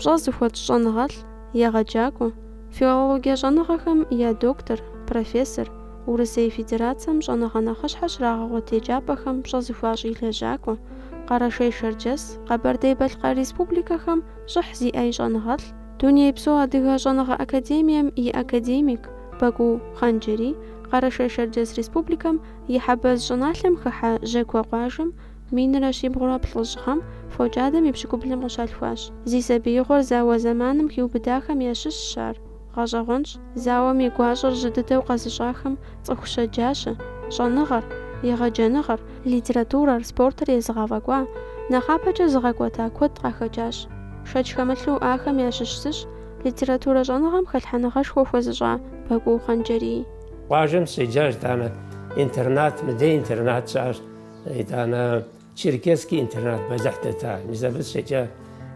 пщӏэ зыхуэтщӏ щӏэныгъэлӏ, егъэджакӏуэ, филологие щӏэныгъэхэм я доктор, профессор, Урысей Федерацием щӏэныгъэ нэхъыщхьэ щрагъэгъуэт еджапӏэхэм пщӏэ зыхуащӏ и лэжьакӏуэ, Къэрэшей-Шэрджэс, Къэбэрдей-Балъкъэр республикэхэм щӏыхь зиӏэ и щӏэныгъэлӏ, Дунейпсо Адыгэ щӏэныгъэ академием и академик Бакӏуу Хъанджэрий Къэрэшей-Шэрджэс Республикэм и Хьэбэз щӏыналъэм хыхьэ Жьакуэ къуажэм минрэ щибгъурэ плӏыщӏ гъэм фокӏадэм и пщыкӏублым къыщалъхуащ. Зи сабиигъуэр зауэ зэманым хиубыдахэм ящыщщ ар. Гъэщӏэгъуэнщ, зауэм и гуащӏэр жьы дыдэу къэзыщӏахэм цӏыху щэджащэ, щӏэныгъэр, егъэджэныгъэр, Литературэр, спортыр езыгъэфӏэкӏуа, нэхъапэкӏэ зыгъэкӏуэта куэд къахэкӏащ. Шэч хэмылъу ахэм ящыщ зыщ литературэ щӏэныгъэм хэлъхьэныгъэшхуэ хуэзыщӏа Бакӏуу Хъанджэрий. Къуажэм сщеджащ, итӏанэ интернат, мыдей интернат щыӏащ, итӏанэ Черкесский интернат бэлыхь дэта, мис абы сщеджа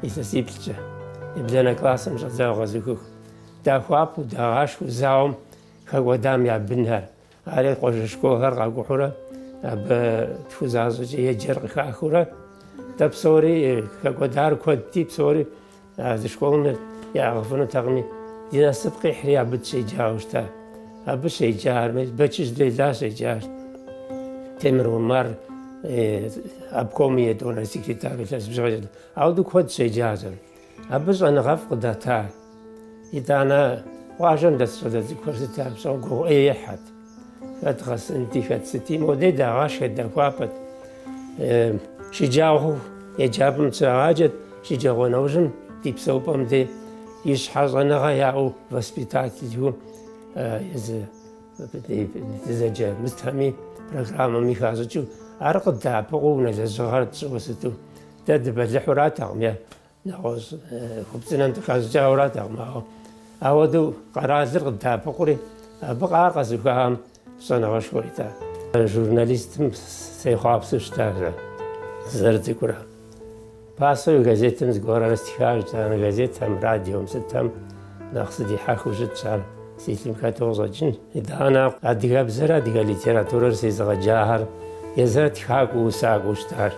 илъэсиплӏкӏэ. Ебланэ классым щӏэдзауэ къэзухыху, дахуапэу, дагъашхэу зауэм хэкӏуэдам я бынхэр, Ари къуажэ школхэр къакӏухьурэ абы тху защӏэкӏэ еджэр къыхахыурэ дэ псори хэкӏуэдар куэдти псори зы школым ягъэфынутэкъыми ди насып къихьри абы дыщеджауэ щыта. Абы щеджа армей Бэчыжь Лейла щеджащ. Темыр Умар обком и етӏуанэ секретарь илъэс бжыгъэ. Ауэдэу куэд щеджащ. Абы щӏэныгъэфӏ къыдата, итӏанэ къуажэм дэс щӏалэ цӏыкӏухэр сыт ар пщӏэу гугъу ӏей ехьхэт. Хэт гъэсынти, хэт сыти, модей дагъашхэт, дахуапэт. Шыджагъуэу еджапӏэм дыщрагъаджэт, шыджагъуэ нэужьым ди псэупӏэм де ищхьэ щӏэныгъэ яӏэу воспитателу езы дызэджэ мы сытхэми, программэми хащӏыкӏыу, ар къыддэӏэпыкъуу унэ лэжьыгъэр тщӏыуэ сыту Дэ дыбэлыхьуратэкъым е нэгъуэщӏ хупцӏынэм дыхащӏыкӏауэратэкъым, ауэ ауэдэу къэралыр къыддэӏэпыкъури, абы къар къэзыухахэм щӏэныгъэшхуэ ита. Журналистым сехъуапсэу сщытащ сызэрыцӏыкӏурэ. Пасэуи газетым зыгуэрхэр стхащ, итӏанэ газетхэм, радиом, сытэм. Нэхъ сыдихьэхыу щытщ ар си лъым хэту къыщӏэкӏын. Итӏанэ адыгэбзэр, адыгэ литературэр сезыгъэджахэр езыхэр тхакӏуэу, усакӏуэу щытар.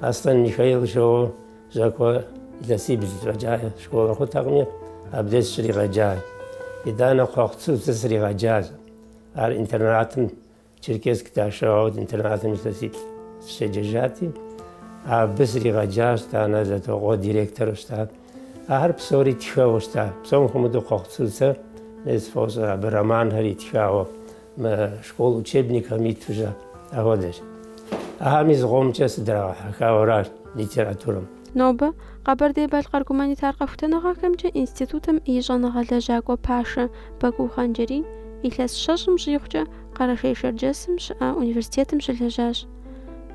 Аслъэн Михаил жоуэ Жьакуэ илъэсибл фӏэкӏа школыр хъутэкъыми, абдеж сщригъэджащ. Итӏанэ Кхъуэхъу Цуцэ сригъэджащ. Ар интернатым Черкесск дашэгъауэ интернатым зы илъэс сыщеджэжати, абы сригъэджащ, итӏанэ Зэтокъуэ директору щыта. Ахэр псори тхэу щыта. Псом хуэмыдэу Кхъуэхъу Цуцэ езы сфӏощӏэ, абы романхэр итхауэ, мы школ учебникхэм иту щыта. Апхуэдэщ. Ахэми зыгуэмкӏэ сыдрагъэхьэхауэращ литературэм. Нобэ Къэбэрдей-Балъкъэр гуманитар къэхутэныгъэхэмкӏэ институтым и щӏэныгъэ лэжьакӏуэ пашэ Бакӏуу Хъанджэрий илъэс щэщӏым щӏигъукӏэ Къэрэшей-Шэрджэсым щыӏэ университетым щылэжьащ.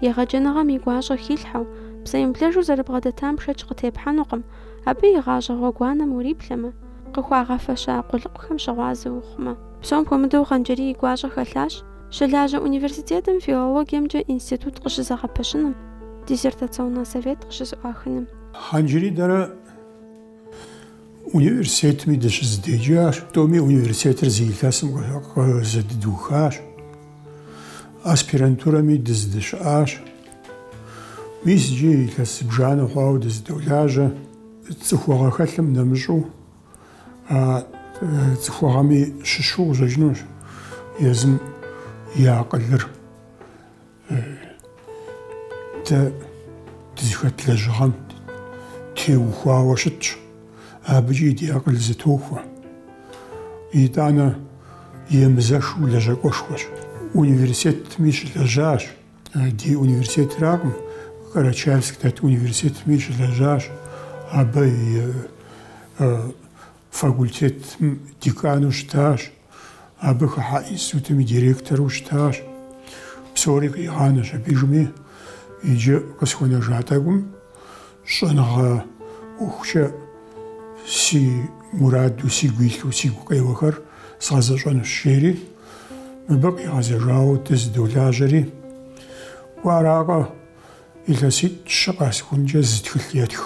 Егъэджэныгъэм и гуащӏэ хилъхьэу, псэемыблэжу зэрыбгъэдэтам шэч къытепхьэнукъым, абы и гъащӏэ гъуэгуанэм уриплъэмэ, къыхуагъэфэща къулыкъухэм щыгъуазэ ухъумэ. Псом хуэмыдэу Хъанджэрий и гуащӏэ хэлъащ. Щылажьэ университетым филологиемкӏэ институт къыщызэгъэпэщыным, диссертационный совет къыщызэӏуахыным. Хъанджэрий дэрэ университетми дыщызэдеджащ, тӏоми университетыр зы илъэсым къызэдыдухащ, аспирантурэми дызэдэщыӏащ. Мис иджы илъэс зыбжанэ хъуауэ дызэдолажьэ. Цӏыхугъэ хэлъым нэмыщӏу цӏыхугъэми щыщу къыщӏэкӏынущ езым и акъылыр. Дэ дызыхэт лэжьыгъэм теухуауэ щытщ, абыкӏи ди акъыл зэтохуэ. Итӏанэ емызэшу лэжьакӏуэшхуэщ. Университетми щылэжьащ. Ди университетракъым, Карачаевск дэт университетми щылэжьащ. Абы и факультетым декану щытащ, абы хыхьэ институтым и директору щытащ. Псори къигъанэщ аби, жьыми, иджы къысхуэнэжа тӏэкӏум. Щӏэныгъэ ӏуэхукӏэ си мураду сигу илъу, сигу къеуэхэр сгъэзэщӏэнущ, жери мыбы къигъэзэжауэ дызэдолажьэри, уэ аракъэ, илъэситӏ-щы къэсыхункӏэ зы тхылъ етх.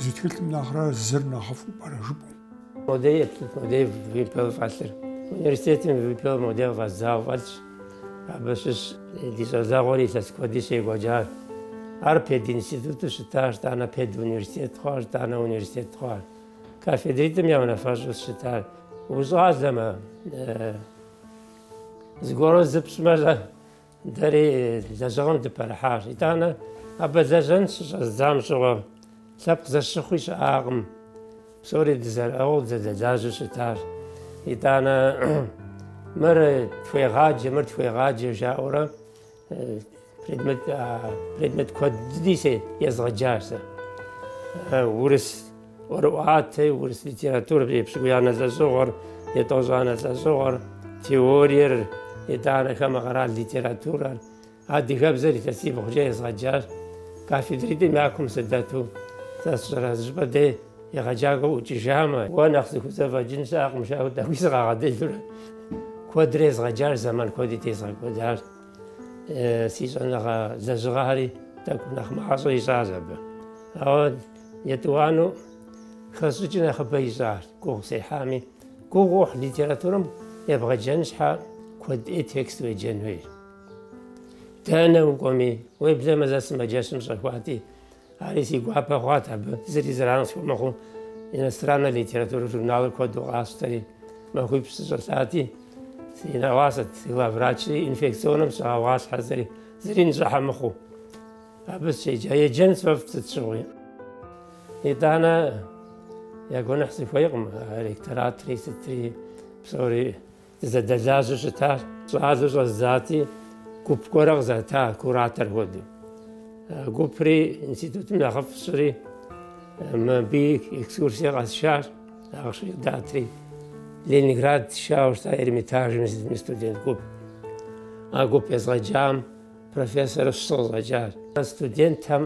Зы тхылъым нэхърэ зыр нэхъыфӏу пӏэрэ жыпӏэу? Модей модей вымпел фӏэлъыр. Университетым вымпел модей фӏэздзауэ фӏэлъщ. Абы щыщ ди щӏалэгъуэр илъэс куэди щекӏуэкӏар. Ар пединституту щытащ, итӏанэ педуниверситет хъуащ, итӏанэ университет хъуащ. Кафедритӏым я унафэщӏу сыщытар. Ущӏалэмэ, зыгуэру зыпщӏмэ, Дэри лэжьыгъэм дыпэрыхьащ. Итӏанэ абы лэжьэн щыщӏэздзам щыгъуэ лъэпкъ зэщыхъуи щыӏакъым. Псори дызэрыӏыгъыу дызэдэлажьэу щытащ. Итӏанэ мыр тхуегъаджэ, мыр тхуегъаджэ жаӏэурэ предмет предмет куэд дыди сэ езгъэджащ сэ. Урыс ӏуэрыӏуатэри, урыс литературэ епщыкӏубгъуанэ лӏэщӏыгъуэр, етӏощӏанэ лӏэщӏыгъуэр, теориер, итӏанэ хамэ къэрал литературэр, адыгэбзэр илъэсибгъукӏэ езгъэджащ. Кафедритӏым я кум сыдэту сэ сщӏэрэ, зыщӏыпӏэ дей егъэджакӏуэ ӏукӏыжамэ, уэ нэхъ зыхузэфӏэкӏын щыӏэкъым, жаӏэу тӏэкӏуи сыкъагъэдэлурэ, куэдрэ езгъэджащ, зэман куэди тезгъэкӏуэдащ. Си щӏэныгъэ лэжьыгъэхэри тӏэкӏу нэхъ мащӏэ ищӏащ абы. Ауэ Етӏуанэу хэщӏыкӏ нэхъыбэ ищӏащ, гугъу сехьами, гугъу уехь литературэм ебгъэджэн щхьэ куэд ӏей текст уеджэн хуейщ. Дэнэ укӏуэми, уеблэмэ зэ сымаджэщым сыщӏэхуати, ари си гуапэ хъуат абы зыри зэран схуэмыхъуу, иностраннэ литературэ журналыр куэду къасщтэри, махуипщӏ сыщӏэлъати, си нэӏуасэт главврачри, инфекционнэм сыщӏагъэгъуалъхьэри, зыри нщӏыхьэ мыхъуу. Абы сыщеджа, еджэн сфӏэфӏ сыт щыгъуи. Итӏанэ я гуэныхь сыхуейкъым, а ректоратри сытри псори дызэдэлажьэу щытащ. Щӏалэу щӏэздзати, гуп гуэрэ къызэта куратор хуэдэу. Гупри институтым нэхъыфӏ щӏри, мыбы экскурсие къэсшащ, ахъшэ къыдатри. Ленинград сшауэ щыта Эрмитажми студент гуп. А гуп езгъэджам Профессор щы къыщӏэкӏащ. Студентхэм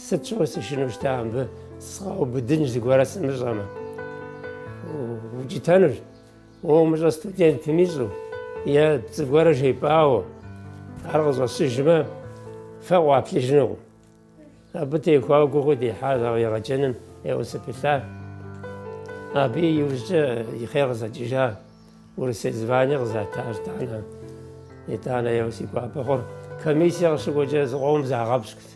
сыт щыгъуи сышынэу щыта мыбы сыкъаубыдынщ зыгуэрэ сымыщӏэмэ. Укӏытэнущ. Уэ умыщӏэ студентым ищӏу е пцӏы гуэрэ жепӏауэ ар къыщӏэщыжмэ фэ къуаплъыжынукъым. Абы теухуауэ гугъу дехьа, ауэ егъэджэным ӏейуэ сыпылъа. Абы и иужькӏэ и хъер къызэкӏыжа Урысей звание къызэта итӏанэ. Итӏанэ еуэ си гуапэ хъур, комиссие къыщыкӏуэкӏэ зыкъомым загъэпщкӏут.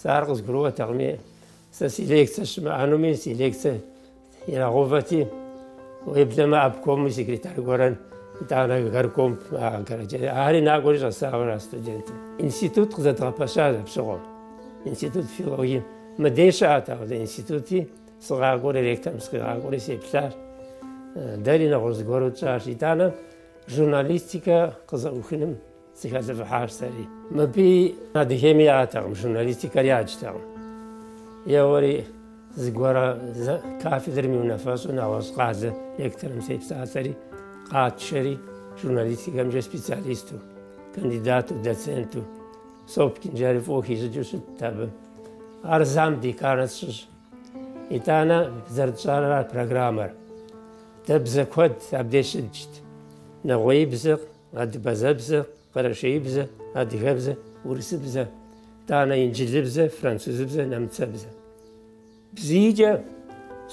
Сэ ар къызгурыӏуэтэкъыми, сэ си лекцэ щымыӏэнуми, си лекцэ Ирагъэувэти, уеблэмэ обкомым и секретарь гуэрэ, итӏанэ горком, ари накӏуэри щӏэсауэ аращ студентым. Институт къызэдгъэпэщащ апщыгъуэм. Институт филологии мыдей щыӏэт, абы институти сыкъакӏуэри, ректорым сыкъигъакӏуэри сеплъащ. Дэри нэгъуэщӏ зыгуэру тщӏащ. Итӏанэ журналистикэ къызэӏухыным Сыхэлӏыфӏыхьащ сэри. Мыбы Адыгейми яӏэтэкъым, журналистикэр яджтэкъым. Еуэри зыгуэрэ кафедрэм и унафэщӏу нэгъуэщӏ къалэ ректорым сепсалъэри, къатшэри, журналистикэмкӏэ специалисту, кандидату, доценту, Сопкин жаӏэри фӏыуэ хищӏыкӏыу щытт абы. Ар зам декан тщӏащ. Итӏанэ зэрытщӏарэ а программэр. Дэ бзэ куэд абдеж щыдджт. Нэгъуеибзэ. Абазэбзэ, къэрэшейбзэ, адыгэбзэ, урысыбзэ, итӏанэ инджылыбзэ, французыбзэ, нэмыцэбзэ. Бзийкӏэ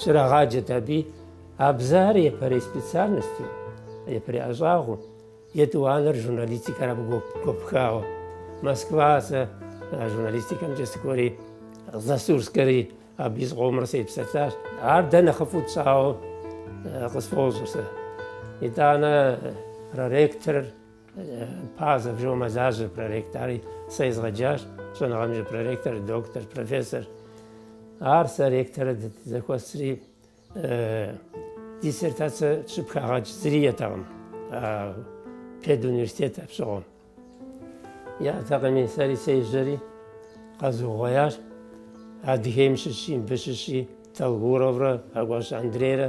щрагъаджэт абы, а бзэхэр япэрей специальносту, япэрей ӏэщӏагъэу, етӏуанэр журналистикэр абы гуэпхауэ. Москва сэ журналистикэмкӏэ сыкӏуэри, Засурскэри. Абы зыкъомрэ сепсэлъащ. Ар дэ нэхъыфӏу тщӏауэ къысфӏощӏыр сэ. Итӏанэ проректор Пазов жаӏэу мэлажьэ проректори сэ езгъэджащ. Щӏэныгъэмкӏэ проректор, доктор, профессор. Ар сэ ректорыр зэхуэсри Диссертацэ щыпхагъэкӏ зыри иӏэтэкъым педуниверситет апщыгъуэм. Яӏэтэкъыми, сэри сежьэри къэзугъуеящ. Адыгейм щыщи, мыбы щыщи Толгуроврэ Хьэкӏуащэ Андрейрэ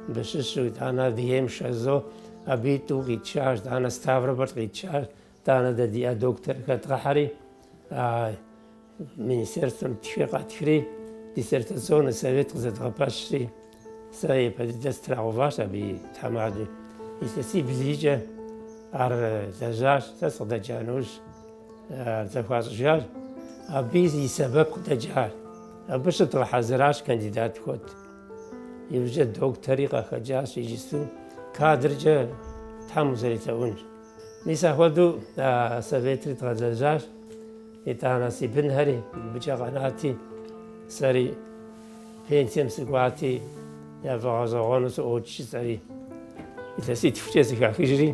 мыбы щыщу, итӏанэ Адыгейм Шазо абы тӏу къитшащ, итӏанэ Ставрополь къитшащ, Тӏанэ дэ диӏэ доктор хэдгъэхьэри, а министерствэм тхыгъэ ттхри, диссертационнэ совет къызэдгъэпэщри, сэ япэ дыдэ страгъэуващ абы и тхьэмадэу. Илъэсибл-ийкӏэ ар лэжьащ, сэ сыкъыдэкӏа нэужь ар зэхуащӏыжащ. Абы и сэбэп къыдэкӏар, абы щыдгъэхьэзыращ кандидат куэд. Иужькӏэ доктори къахэкӏащ иджысту кадркӏэ Тхьэм узэрелъэӏунщ. Мис апхуэдэу а советри дгъэлэжьащ, итӏанэ си бынхэри мыбыкӏэ къэнати, сэри пенсием сыкӏуати, яфӏэгъэщӏэгъуэну сыӏуокӏ жысӏэри, илъэситхукӏэ сыхахыжри,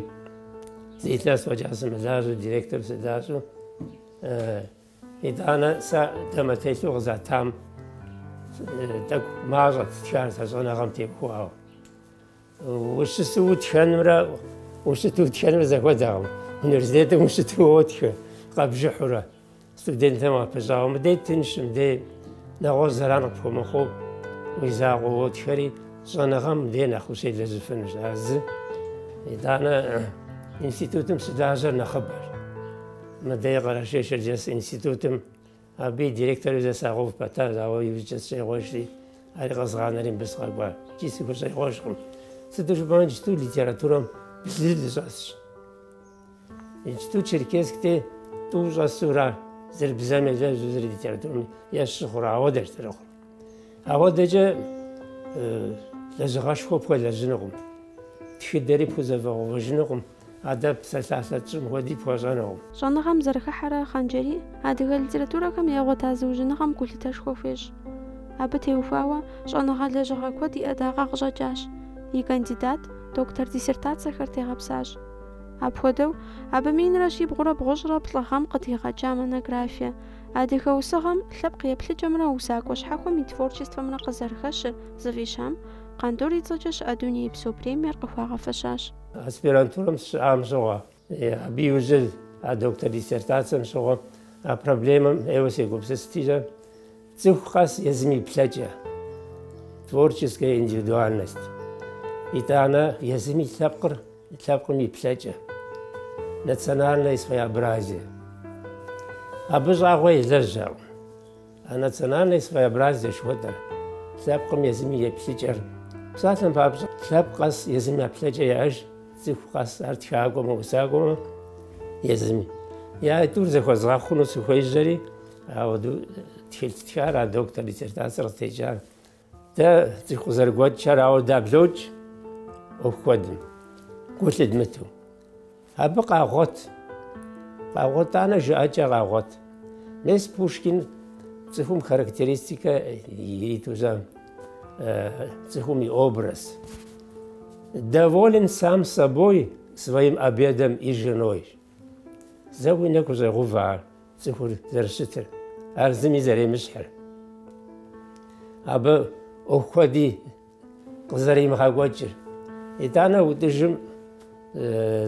зы илъэс фӏэкӏа сымылажьэу директору сыдащӏэу, итӏанэ сэ дамэтелъу къызатам тӏэкӏу мащӏэт стхар сэ щӏэныгъэм тепхуауэ. Ущысу утхэнымрэ ущыту утхэнымрэ зэхуэдэкъым. Университетым ущыту уотхэ къэбжыхьурэ, студентхэм уапыщӏауэ, мыдей тынш, мыдей нэгъуэщӏ зэран къыпхуэмыхъуу уи закъуэ уотхэри, щӏэныгъэм мыдей нэхъ ущелэжьыфынущ. Ар зы. Итӏанэ институтым щылажьэр нэхъыбэщ. Мыдей Къэрэшей-Шэрджэс институтым Абы и директору зэ сагъэув пэтащ, ауэ иужькӏэ сщӏегъуэжри, ари къэзгъанэри мыбы сыкъэкӏуа икӏи сыхущӏегъуэжкъым. Сыту жыпӏэмэ, иджыпсту литературэм блы щӏэсщ. Иджыпсту Черкесск дей тӏу щӏэсура, зыр бзэм елэжьу, зыр литературэм ещу хъура, ауэдэщ зэрыхъур. Ауэдэкӏэ лэжьыгъэшхуэ пхуэлэжьынукъым, тхыдэри пхузэфӏэгъэувэжынукъым. Адэ псалъалъэ тщӏым хуэди пхуэщӏэнукъым. Щӏэныгъэм зэрыхыхьэрэ Хъанджэрий адыгэ литературэхэм ягъуэта зыужьыныгъэм гулъытэшхуэ хуещӏ. Абы теухуауэ щӏэныгъэ лэжьыгъэ куэд и ӏэдакъэ къыщӏэкӏащ, и кандидат, доктор диссертацэхэр тегъэпсащ. Апхуэдэу, абы минрэ щибгъурэ бгъущӏрэ плӏы гъэм къыдигъэкӏа монографие Адыгэ усыгъэм, лъэпкъ еплъыкӏэмрэ усакӏуэ щхьэхуэм и творчествэмрэ къызэрыхэщыр зыфӏищам, Къандур и цӏэкӏэ щыӏэ дунейпсо премиер къыхуагъэфэщащ. Аспирантурэм сыщыӏам щыгъуэ, абы иужьыр а доктор диссертацэм щыгъуэ, а проблемэм ӏейуэ сегупсыстикӏэ, цӏыху къэс езым и плъэкӏэ, творческая индивидуальность, итӏанэ езым и лъэпкъыр, лъэпкъым и плъэкӏэ, национальное своеобразие. Абы щӏагъуэ елэжьакъым. А национальное своеобразие жыхуэтӏэр, лъэпкъым езым и еплъыкӏэр. Псалъэм папщӏэ, лъэпкъ къэс езым я плъэкӏэ яӏэж, цӏыху къэс ар тхакӏуэмэ, усакӏуэмэ езыми. Я тӏур зэхуэзгъэхъуну сыхуежьэри, ахуэдэу тхылъ стхар, а доктор диссертацэр къытекӏар. Дэ цӏыху къызэрыгуэкӏхэр ауэ даблокӏ ӏуэху куэдым, гу лъыдмыту. Абы къагъуэт, къагъуэт итӏанэ жыӏэкӏэ къагъуэт. Мес Пушкин цӏыхум характеристикэ иритузэ, цӏыхум и образ. Доволен сам собой, своим обедом и женой. Зэ уи нэгу щӏегъэувэ ар цӏыхур зэрыщытыр, ар зыми зэремыщхьыр. Абы ӏуэху куэди къызэримыгъэкӏуэкӏыр. Итӏанэ ӏутӏыжым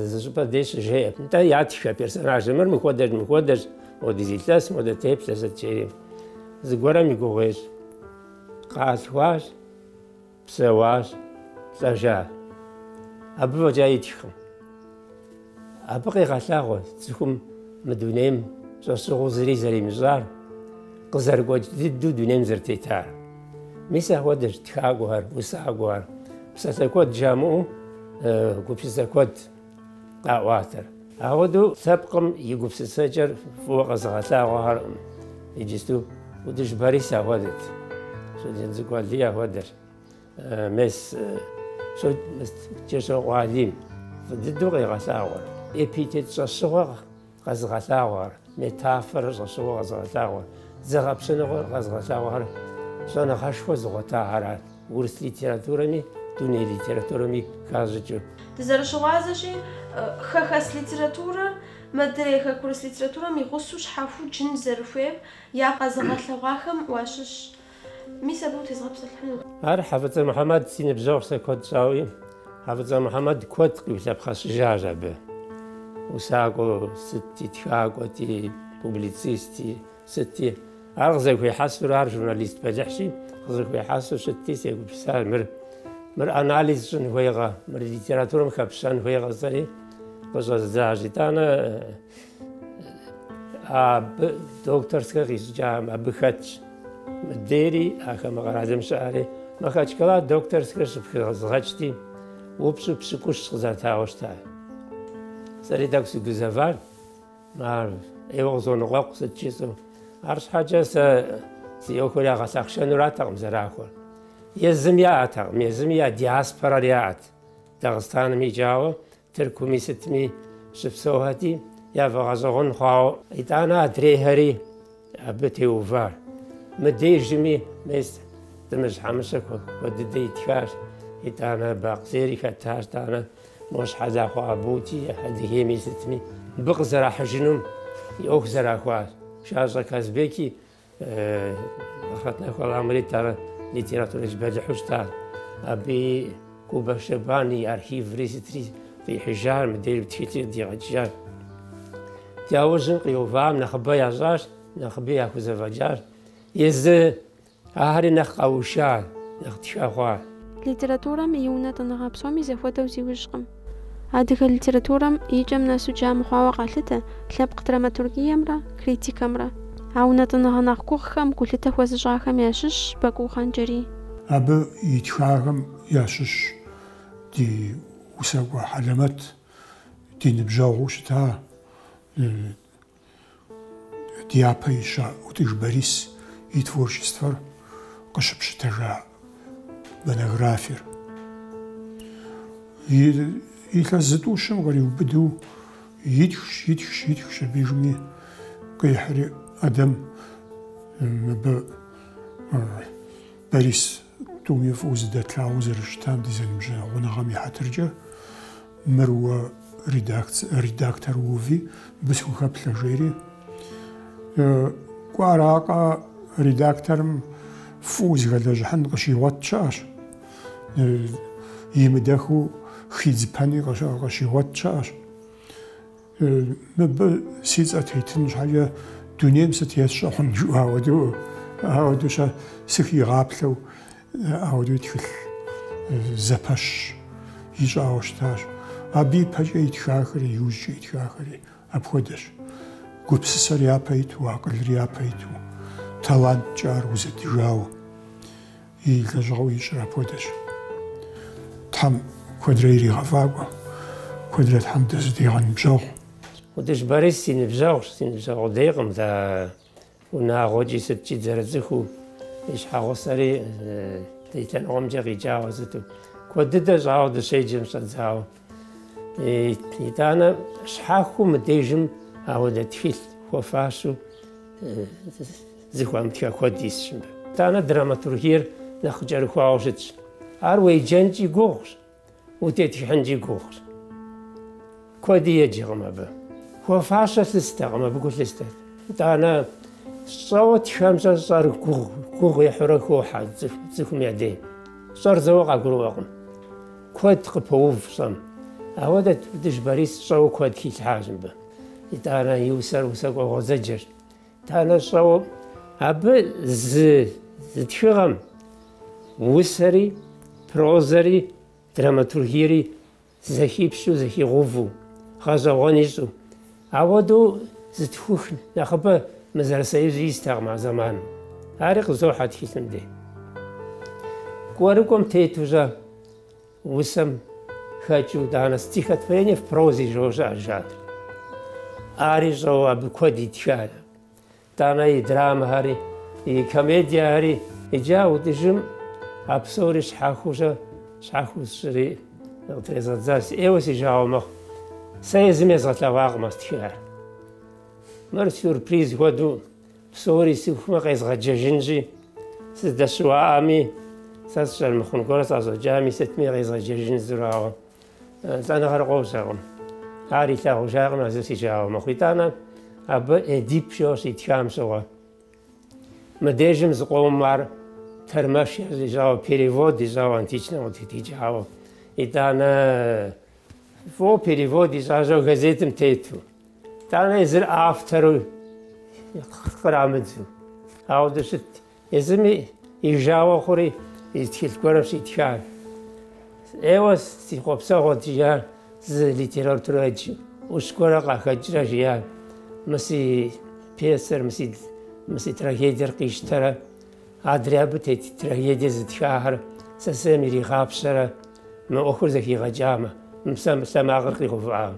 зы щӏыпӏэ дей щыжеӏэ. Нтӏэ ятхэ персонажыр, мыр мыхуэдэщ, мыхуэдэщ, мохуэдиз илъэс, мохуэдэ теплъэ, сыт жери. Зыгуэрым и гугъу ещӏ. Къалъхуащ. Псэуащ, лӏэжа. Абы фӏэкӏа итхкъым. Абы къегъэлъагъуэ цӏыхум мы дунейм щӏэщыгъуу зыри зэримыщӏар, къызэрыгуэкӏ дыдэу дунейм зэрытетар. Мис ахуэдэщ тхакӏуэхэр, усакӏуэхэр, псалъэ куэд жамыӏэу гупсысэ куэд. къаӏуатэр. Ахуэдэу лъэпкъым и гупсысэкӏэр фӏыуэ къэзыгъэлъагъуэхэр, иджысту ӏутӏыж Борис ахуэдэт, Щоджэнцӏыкӏу Алий ахуэдэрт, мес Кӏыщокъуэ Алим фӏы дыдэу къигъэлъагъуэрт. Эпитет щӏэщыгъуэ Къэзыгъэлъагъуэхэр. Метафорэр щӏэщыгъуэу къэзыгъэлъагъуэр. Зэгъэпщэныгъэр къэзыгъэлъагъуэхэр щӏэныгъэшхуэ зыгъуэтахэрат, урыс литературэми дуней литературэми хащӏыкӏыу. Дызэрыщыгъуазэщи, хэхэс литературэр мыдрей хэкурыс литературэм и гъусэу щхьэхуэу джын зэрыхуейм я къэзыгъэлъэгъуахэм уащыщщ. Мис абы утезгъэпсэлъыхьынут. Ар Хьэфӏыцӏэ Мухьэмэд си ныбжьэгъущ сэ куэд щӏауи, Хьэфӏыцӏэ Мухьэмэд куэд къиулъэпхъэщӏыжащ абы. Усакӏуэ сытти, тхакӏуэти, публицисти сытти. Ар къызэхуехьэсурэ, ар журналист бэлыхьщи, къызэхуехьэсу щытти, сегупсысар, мыр, мыр анализ щӏын хуейкъэ, мыр литературэм хэпщэн хуейкъэ, сэри къыщӏэздзащ. Итӏанэ. Абы докторскэр къисщӏыкӏам абы хэтщ. Мыдейри, ахэр мы къэралым щыӏэри, Махачкала докторскэр щыпхызгъэкӏти, упщӏу пщыкӏущ къызатауэ щыта. Сэри тӏэкӏу сыгузэвар, ар ӏейуэ къызоныкъуэкъу сыт жысӏэу. Арщхьэкӏэ сэ си ӏуэхур ягъэлъахъшэнуратэкъым зэрахуэр. Езым яӏэтэкъым, езыми я диаспорэр яӏэт Дагъыстаным икӏауэ, Тыркуми сытми щыпсэухэти, яфӏэгъэщӏэгъуэн хъуауэ. Итӏанэ адрейхэри абы теувар. Мыдежми мес Тӏымыжь Хьэмыщэ куэд дыдэ итхащ. Итӏанэ Бакъ Зери хэтащ, тӏанэ мо Щхьэлахъуэ Абути Адыгейми сытми абы къызэрахьыжынум и ӏуэху зэрахуащ. Щэщӏэ Казбеки Ахърэт нэху Алыхьым кърит, ар литературэдж бэлыхьу щытар. Абы и Кубэ Щэбан и архиври сытри къихьыжар, мыдейри тхылъи къыдигъэкӏыжар. Ди ужьым къиувахэм нэхъыбэ ящӏащ, нэхъыби яхузэфӏэкӏар. Езы ахэри нэхъ къэушар, нэхъ тхэ хъуар. Литературэм и унэтӏыныгъэ псоми зэхуэдэу зиужькъым. Адыгэ литературэм икӏэм нэсу джа мыхъуауэ къалъытэ лъэпкъ драматургиемрэ критикэмрэ. А унэтӏыныгъэ нэхъ гугъхэм гулъытэ хуэзыщӏахэм ящыщщ Бакӏуу Хъанджэрий. Абы итхахэм ящыщщ ди усакӏуэ хьэлэмэт, ди ныбжьэгъуу щыта Ди япэ ища Ӏутӏыж Борис и творчествэр къыщыпщытэжа монографиер. Илъэс зытӏущым къриубыдэу итхщ, итхщ, итхщ, абдежми къихьри, Ӏэдэм, мыбы Борис Тӏуми фӏыуэ зыдэтлъагъуу зэрыщытам ди зэныбжьэгъуныгъэм и хьэтыркӏэ мыр уэ редактор уви, мыбы схухэплъэ, жери. Кӏуэ аракъэ, редакторым фӏыуэ зыхэлэжьыхьын къыщигъуэт щыӏэщ. Имыдэхыу хидзыпэни къыщигъуэт щыӏэщ. Мыбы си цӏэ тетын щхьэкӏэ дунейм сыт ес щӏыхьун жыӏуа хуэдэу, ауэдэу-щэ сыхигъаплъэу ауэдэу и тхылъ зэпэщ ищӏауэ щытащ. Абы ипэкӏэ итхахэри, иужькӏэ итхахэри апхуэдэщ. Гупсысэр япэ иту, акъылыр япэ иту, таланткӏэ ар узэдыжауэ. И лэжьыгъэу ищӏыр апхуэдэщ. Тхьэм куэдрэ иригъэфӏакӏуэ, куэдрэ Тхьэм дызыдигъэныбжьэгъу. Ӏутӏыж Борис си ныбжьэгъущ, си ныбжьэгъу къудейкъым, дэ унагъуэкӏи сыткӏи дызэрыцӏыхуу, и щхьэгъусэри ди лъэныкъуэмкӏэ къикӏауэ сыту. Куэд дыдэ щӏауэ дыщеджэм щӏэдзауэ. Итӏанэ щхьэхуэу мыдежым ауэдэ тхылъ хуэфащэу зыхуамытха куэд исщ мыбы. Итӏанэ драматургиер нэхъ къыкӏэрыхуауэ щытщ. Ар уеджэнкӏи гугъущ, утетхыхьынкӏи гугъущ. Куэди еджэкъым абы. Хуэфащэ лъыстэкъым, абы гу лъыстэрт. Итӏанэ щӏэуэ тхэм-щэ щӏэр гугъу, гугъу ехьурэ хохьэ цӏыхум я дей. Щӏэр зэуэ къагурыӏуэкъым. Куэд къыпоув щӏэм. Ауэ дэ Ӏутӏыж Борис щӏэуэ куэд хилъхьащ мыбы. Итӏанэ и усэр усакӏуэ гъуэзэджэщ. Тӏанэ щӏэуэ абы зы зы тхыгъэм усэри, прозэри, драматургиери зэхипщэу, зэхигъэувэу, гъэщӏэгъуэн ищӏу, Ауэдэу зытхух нэхъыбэ мы зэрысоюзу истэкъым а зэманым. Ари къызохьэ тхылъым дей. Кӏуэрыкӏуэм тету-щэ усэм хэкӏыу итӏанэ стихотворение в прозе жо щыӏэ жанр. Ари щӏэуэ абы куэд итхарэ. Тӏанэ и драмэхэри, и комедиехэри иджы а Ӏутӏыжым а псори щхьэхуэу-щэ щхьэхуэу сщӏыри къытрезгъэдзащ, ӏейуэ си жагъуэ мэхъу. Сэ езым езгъэлъэгъуакъым а стхыхэр. Мыр сюрприз хуэдэу псори сыхумэ къезгъэджэжынщи, сыздэщыуаӏами, сэ сщӏэрэ, мыхъун гуэр сӏэщӏэкӏами, сытми къезгъэджэжын зырауэ. Лӏэныгъэр къожьэкъым. Ар илъагъужакъым а зыр си жагъуэ мэхъу. Итӏанэ абы Эдип щӏэу щитхам щыгъуэ. Мыдежым зыкъомым ар тэрмэш ищӏауэ, перевод ищӏауэ античнэм къытритхыкӏауэ. Итӏанэ фӏо перевод ищӏащ жаӏэу газетым тету. Итӏанэ езыр автору кърамыдзу. Ауэдэу щыт. Езыми и жагъуэ хъури и тхылъ гуэрым щитхар. Ӏейуэ си хъуэпсэгъуэт, жиӏар зы литературэдж ӏущ гуэрэ къахэкӏрэ жиӏар. Мы си пьесэр, мы си трагедиер къищтэрэ, адрей абы тет трагедие зытхахэр сысейм иригъапщэрэ, мы ӏуэхур зэхигъэкӏамэ, мы псалъэмакъыр къигъэувыӏамэ.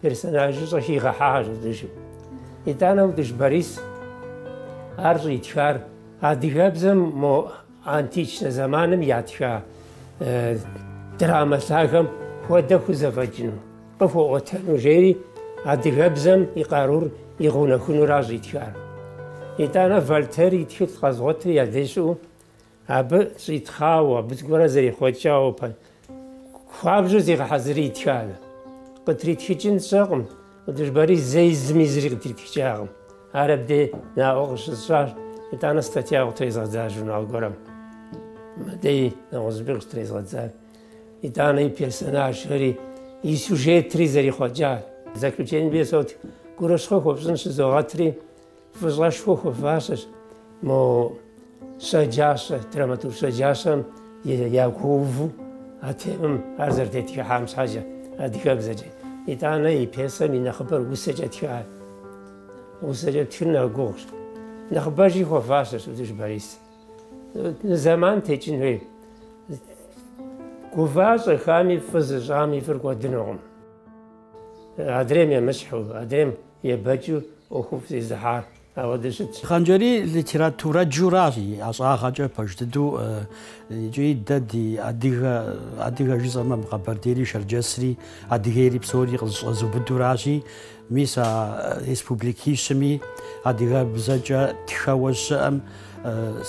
Персонажыщӏэ хигъэхьащ Ӏутӏыжым. Итӏанэ Ӏутӏыж Борис, ар щӏитхар адыгэбзэм мо античнэ зэманым ятха драмэ лъагэм хуэдэ хузэфӏэкӏыну, къыхуэӏуэтэну жери адыгэбзэм и къарур игъэунэхунуращ щӏитхар. Итӏанэ Вольтер и тхылъ къэзгъуэтри я деж щыӏэу Абы щӏитхъауэ, абы зыгуэрэ зэрихъуэкӏауэ пэ хуабжьу зигъэхьэзыри итханэ. Къытритхыкӏын щӏэкъым, Ӏутӏыж Борис зэи зыми зыри къытритхыкӏакъым. Ар абдей наӏуэ къыщысщӏащ, итӏанэ статья къытрезгъэдзащ журнал гуэрым. Мыдэи нэгъуэщӏыпӏи къытрезгъэдзащ. Итӏанэ и персонажхэри, и сюжетри зэрихъуэкӏащ. В заключение, Бесот гурыщхъуэ хуэпщӏын щызогъэтри, Фӏыщӏэшхуэ хуэфащэщ мо щэджащэ, драматург щэджащэм ягуэуву а темэм ар зэрытетхыхьам щхьэкӏэ, адыгэбзэкӏэ. Итӏанэ и пьесэм и нэхъыбэр усэкӏэ тхар. Усэкӏэ птхыр нэхъ гугъущ. Нэхъыбэжи хуэфащэщ Ӏутӏыж Борис. Зэман текӏын хуей. Гува-щӏэхами, фӏы зыщӏам и фӏыр кӏуэдынукъым. Адрейм емыщхьу, адрейм Ебэкӏыу ӏуэхуфӏ зезыхьар апхуэдэу щытщ. Хъанджэрий литературэджуращ и ӏэщӏагъэкӏэ пэж дыдэу икӏи дэ ди адыгэ, адыгэ жысӏэмэ мы Къэбэрдейри Шэрджэсри, Адыгейри псори къызыщӏэзыубыдуращи, мис а республикищыми адыгэбзэкӏэ тхэуэ щыӏэм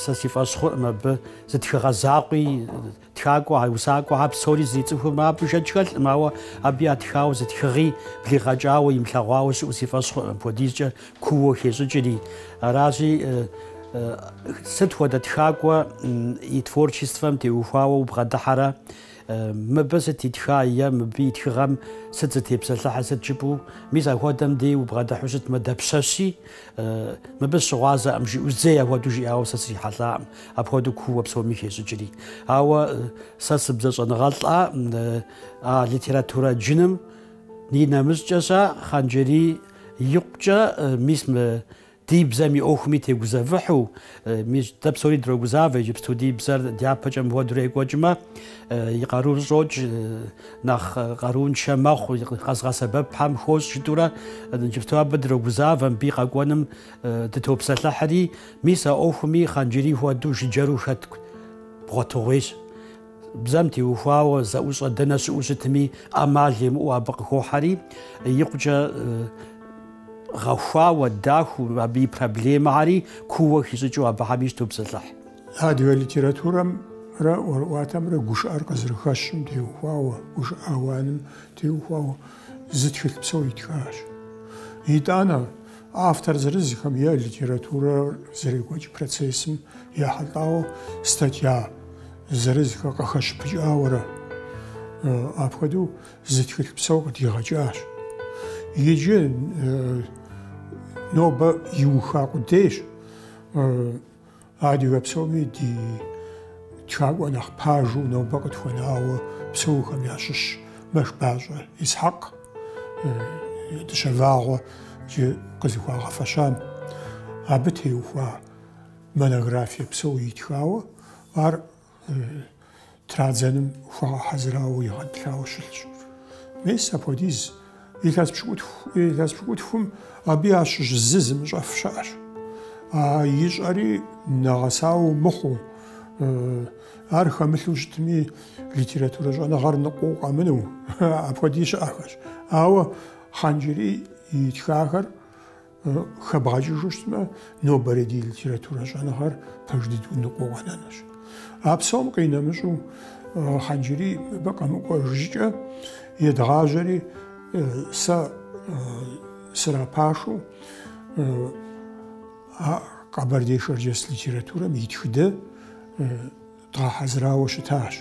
сэ си фӏэщ хъуӏым абы зы тхыгъэ закъуи, Тхакӏуэ, усакӏуэхэр псори зэрицӏыхум абы шэч хэлъкъым, ауэ абы ятхауэ зы тхыгъи блигъэкӏауэ, имылъэгъуауэ щыӏэу си фӏэщ хъуркъым, апхуэдизкӏэ кууэ хещӏыкӏри. Аращи, сыт хуэдэ тхакӏуэ и творчествэм теухуауэ убгъэдыхьэрэ? Мыбы сыт итха е мыбы и тхыгъэм сыт зытепсэлъыхьыр, сыт жыпӏэу? Мис апхуэдэм дей убгъэдыхьу щытмэ, дапщэщи, Мыбы сыщыгъуазэкъым, жиӏэу зэи апхуэдэу жиӏауэ сэ срихьэлӏакъым, апхуэдэу кууэ псоми хещӏыкӏри. Ауэ сэ сыбзэщӏэныгъэлӏа а литературэ джыным и нэмыщӏкӏэща Хъанджэрий икъукӏэ, мис мы ди бзэм и ӏуэхуми тегузэвыхьу, Мис дэ псори дрогузавэ, иджыпсту ди бзэр дяпэкӏэ мыпхуэдэурэ екӏуэкӏмэ, и къарур щӏокӏ, нэхъ къарууншэ мэхъу, къэзыгъэсэбэпхэм хощӏ жытӏэурэ, иджыпсту абы дрогузавэ, мыбы и къэкӏуэным дытопсэлъыхьри. Мис а ӏуэхуми Хъанджэрий хуэдэу жыджэру хэт бгъуэтыгъуейщ. Бзэм теухуауэ зэӏущӏэ дэнэ щыӏэу щытми, ӏэмал емыӏэу абы къыхохьэри, икъукӏэ гъэхуауэ, дахэу, абы и проблемэхэри кууэ хищӏыкӏыу абыхэми щытопсэлъыхь. Адыгэ литературэмрэ ӏуэрыӏуатэмрэ гушыӏэр къызэрыхэщым теухуауэ, гушыӏэ ауаным теухуауэ зы тхылъ псо итхащ. Итӏанэ! Автор зырызхэм е литературэр зэрекӏуэкӏ процессым ехьэлӏауэ статья зырызхэр къыхэщыпыкӏауэрэ, апхуэдэу зы тхылъ псо къыдигъэкӏащ. Иджы нобэ иуха къудейщ. Адыгэ псоми ди тхакӏуэ нэхъ пажу нобэ къытхуэнауэ псэухэм ящыщ Мэшбащӏэ Исхьэкъ, Дыщэ Вагъуэ иджы къызыхуагъэфэщам. Абы теухуа монографие псо итхауэ ар Традзэным хуагъэхьэзырауэ игъэтӏылъауэ щылъщ. Мес апхуэдиз илъэс пщыкӏутху, илъэс пщыкӏутхум абы ящыщ зы зымыщӏэф щыӏэщ. А ищӏэри нэгъэсауэ мыхъуу, ар хэмылъу щытми, литературэ щӏэныгъэр ныкъуэу къэмыну, апхуэди щыӏэхэщ. Ауэ Хъанджэрий итхахэр Хэбгъэкӏыжу щытмэ, нобэрей ди литературэ щӏэныгъэр пэж дыдэу ныкъуэу къэнэнущ. А псом къинэмыщӏу Хъанджэрий мыбы къэмыкӏуэ щӏыкӏэ едгъажьэри, сэ срапашу а къэбэрдей-шэрджэс литературэм и тхыдэ дгъэхьэзырауэ щытащ.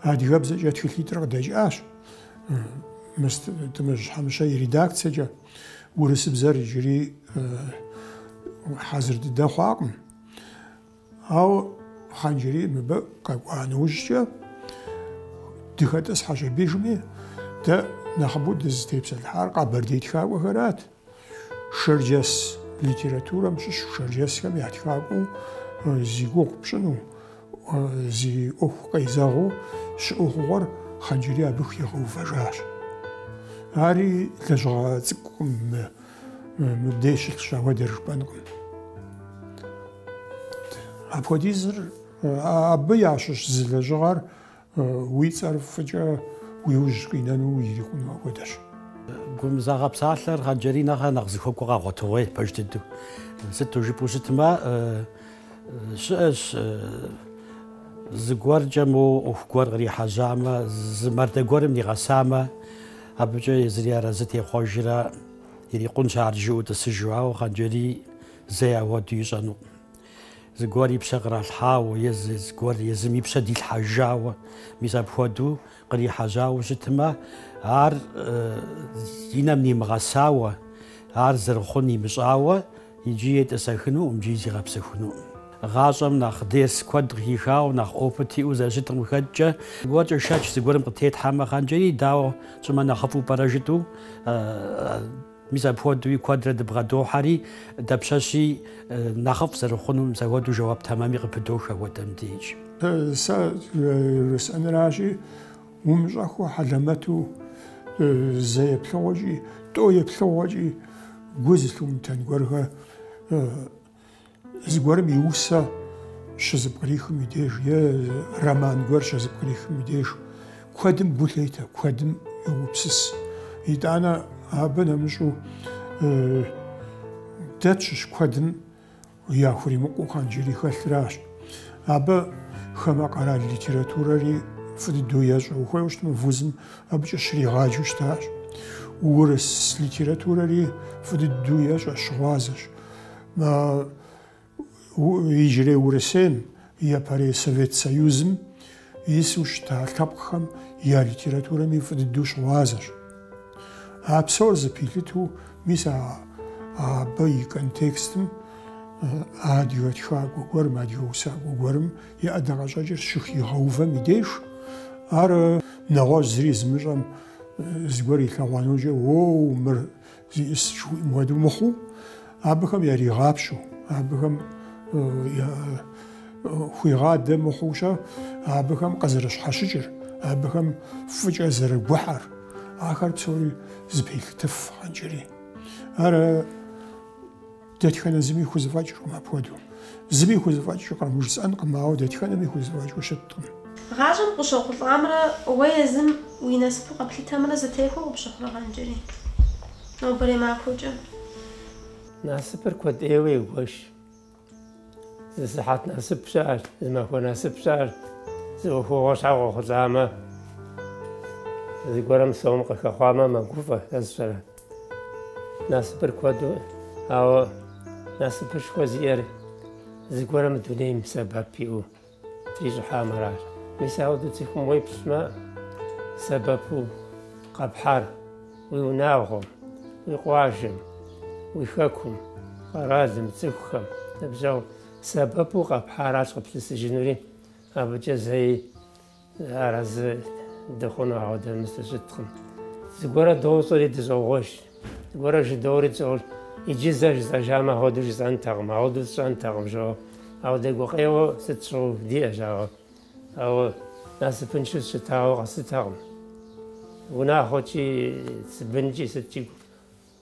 Адыгэбзэкӏэ тхылъитӏыр къыдэкӏащ мис Тӏымыжь Хьэмыщэ и редакцэкӏэ. урысыбзэр иджыри хьэзыр дыдэ хъуакъым. Ауэ Хъанджэрий мыбы къэкӏуа нэужькӏэ дыхэтӏысхьэжа пэжми дэ нэхъыбэу дызытепсэлъыхьар къэбэрдей тхакӏуэхэрат. Шэрджэс литературэм щыщ шэрджэсхэм я тхакӏуэу зи гугъу пщӏыну, Зи ӏуэху къезэгъыу щыӏэу хъугъуэр Хъанджэрий абы хигъэувэжащ. Ари лэжьыгъэ цӏыкӏукъым, мыбдеж щылъщ ауэдэр жыпӏэнкъым. Апхуэдизыр абы ящыщ зы лэжьыгъэр Уи цӏэр фӏыкӏэ уи ужь къинэну ирикъуну апхуэдэщ. Гумызагъэ псалъэр Хъанджэрий нэхърэ нэхъ зыхуэкӏуэ къэгъуэтыгъуей пэж дыдэу. Сыту жыпӏэу щытмэ, щыӏэщ зыгуэркӏэ моуэ ӏуэху гуэр кърихьэжьамэ, зы мардэ гуэрым нигъэсамэ, абыкӏэ езыри арэзы техъуэжрэ ирикъунщ ар жиӏэу тӏысыжу. Ауэ Хъанджэрий зэи ахуэдэу ищӏэнукъым. Зыгуэр и пщэ къралъхьауэ е зыгуэр езым и пщэ дилъхьэжауэ, мис апхуэдэу кърихьэжьауэ щытмэ, ар и нэм нимыгъэсауэ, ар зэрыхъун имыщӏауэ иджы етӏысэхынукъым икӏи зигъэпсэхунукъым. Гъащӏэм нэхъ дерс куэд къыхихауэ, нэхъ опыт иӏэу зэрыщытым къыхэкӏкӏэ, зыгуэркӏэ шэч зыгуэрым къытетхьэмэ, Хъанджэрий, дауэ тщӏымэ нэхъыфӏу пӏэрэ жытӏэу, Мис апхуэдэуи куэдрэ дыбгъэдохьэри, дапщэщи нэхъыфӏ зэрыхъуну мис апхуэдэу жэуап тэмэми къыпыдох апхуэдэм деж. Сэ жысӏэныращи, умыщӏэххэу хьэлэмэту зэ еплъыгъуэкӏи, тӏэу еплъыгъуэкӏи гу зылъумытэн гуэрхэр. Зыгуэрым и усэ щызэпкърихым и деж е роман гуэр щызэпкърихым и деж куэдым гу лъетэ, куэдым йогупсыс. Итӏанэ абы нэмыщӏу дэ тщыщ куэдым яхуримыкъуу Хъанджэрий хэлъыращ. Абы хамэ къэрал литературэри фӏы дыдэу ещӏэ. Ухуейуэ щытмэ, вузым абыкӏэ щригъаджэу щытащ. Урыс литературэри фӏы дыдэу ещӏэ, щыгъуазэщ. Иджырей Урысейм, япэрей Совет Союзым ису щыта лъэпкъхэм я литературэми фӏы дыдэу щыгъуазэщ. А псор зэпилъыту, мис а абы и контекстым адыгэ тхакӏуэ гуэрым, адыгэ усакӏуэ гуэрым и ӏэдакъэщӏэкӏыр щыхигъэувэм и деж, ар нэгъуэщӏ зыри зымыщӏэм зыгуэр илъэгъуа нэужькӏэ, Уоу, мыр Зищӏыс жыхуиӏэм хуэдэу мыхъуу, абыхэм яригъапщэу, абыхэм хуигъадэ мыхъуущэ, абыхэм къызэрыщхьэщыкӏыр, абыхэм фӏыкӏэ зэрыгухьэр, ахэр псори зэпелъытыф Хъанджэрий. Ар Дэтхэнэ зыми хузэфӏэкӏыркъым апхуэдэу. Зыми хузэфӏэкӏыркъым, жысӏэнкъым, ауэ дэтхэнэми хузэфӏэкӏыу щыткъым. Гъащӏэм къыщохъулӏамрэ уэ езым уи насыпу къэплъытэмрэ зэтехуэу къыпщыхъурэ, Хъанджэрий. Нобэрей махуэкӏэ. Насыпыр куэд ӏейуэ егуэш. Зы сыхьэт насып щыӏэщ, зы махуэ насып щыӏэщ. Зы ӏуэхугъуэ щхьэ къохъулӏамэ, зыгуэрым сом къыхэхъуамэ, мэгуфӏэ, сэ сщӏэрэ. Насыпыр куэду, ауэ насыпышхуэ зиӏэр зыгуэр мы дунейм сэбэп иӏэу трищӏыхьамэ аращ. Мис апхуэдэу цӏыхум уеплъмэ, сэбэпу къэпхьар уи унагъуэм, уи къуажэм, уи хэкум, къэралым, цӏыхухэм, ныбжьэгъу сэбэпу къэпхьаращ къыплъысыжынури, абыкӏэ зэи Арэзы дыхъуну ауэдэ мис дыщыткъым. Зыгуэрэ дощӏэри дыщӏогъуэж, зыгуэрэ жыдоӏэри дыщӏогъуэж. Иджы зэ жысӏэжам ахуэду жысӏэнтэкъым, ахуэду сщӏэнтэкъым жоӏэ. Ауэдэ гукъеуэ сыт щыгъуи диӏэщ, ауэ. Ауэ насыпыншэу сыщытауэ къэслъытэкъым. Унагъуэкӏи, си бынкӏи сыткӏи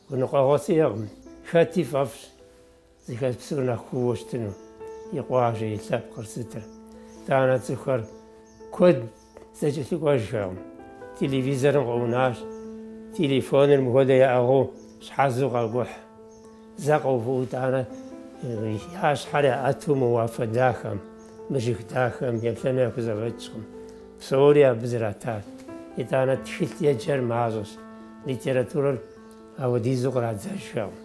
гуныкъуэгъуэ сиӏэкъым. Хэти фӏэфӏщ. Зыхэс псор нэхъ хъууэ щытыну и къуажэ, и лъэпкъыр сытыр. Тӏанэ цӏыхухэр куэд зэкӏэлъыкӏуэжхэкъым. Телевизорым къыӏунащ, телефоныр мыхуэдэ яӏыгъыу щхьэзу къакӏухь. Зэ къэувыӏэу тӏанэ я щхьэр яӏэту мы уафэ дахэм, мы жыг дахэм еплъэну яхузэфӏэкӏкъым. Псори абы зратащ. Итӏанэ тхылъ еджэр мащӏэщ, литературэр апхуэдизу кърадзэжхэкъым.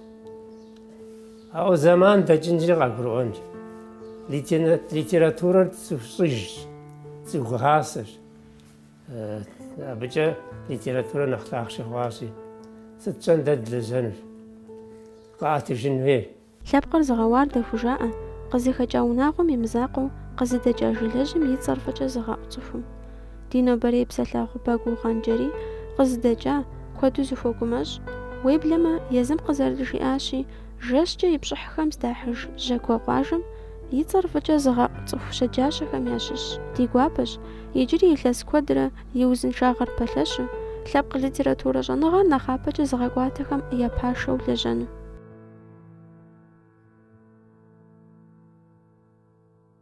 Ауэ зэман дэкӏынщи къагурыӏуэнщ. Литературэр цӏыху щӏыжщ, цӏыху гъасэщ. Абыкӏэ литературэ нэхъ лъахъшэ хъуащи, сыт щӏэн дэ дылэжьэнущ, къаӏэтыжын хуей. Лъэпкъыр зыгъэуардэ хужаӏэ, къызыхэкӏа унагъуэм и мызакъуэу, къызыдэкӏа жылэжьым и цӏэр фӏыкӏэ зыгъэӏу цӏыхум. Ди нобэрей псалъэгъу Бакӏуу Хъанджэрий къызыдэкӏа куэду зыхуэгумэщӏ, уеблэмэ езым къызэрыджиӏащи, жэщкӏэ и пщӏыхьхэм здахьыж Жьакуэ къуажэм и цӏэр фӏыкӏэ зыгъэӏу цӏыху щэджащэхэм ящыщщ, ди гуапэщ, иджыри илъэс куэдрэ и узыншагъэр пэлъэщу, лъэпкъ литературэ щӏэныгъэр нэхъапэкӏэ зыгъэкӏуатэхэм я пашэу лэжьэну.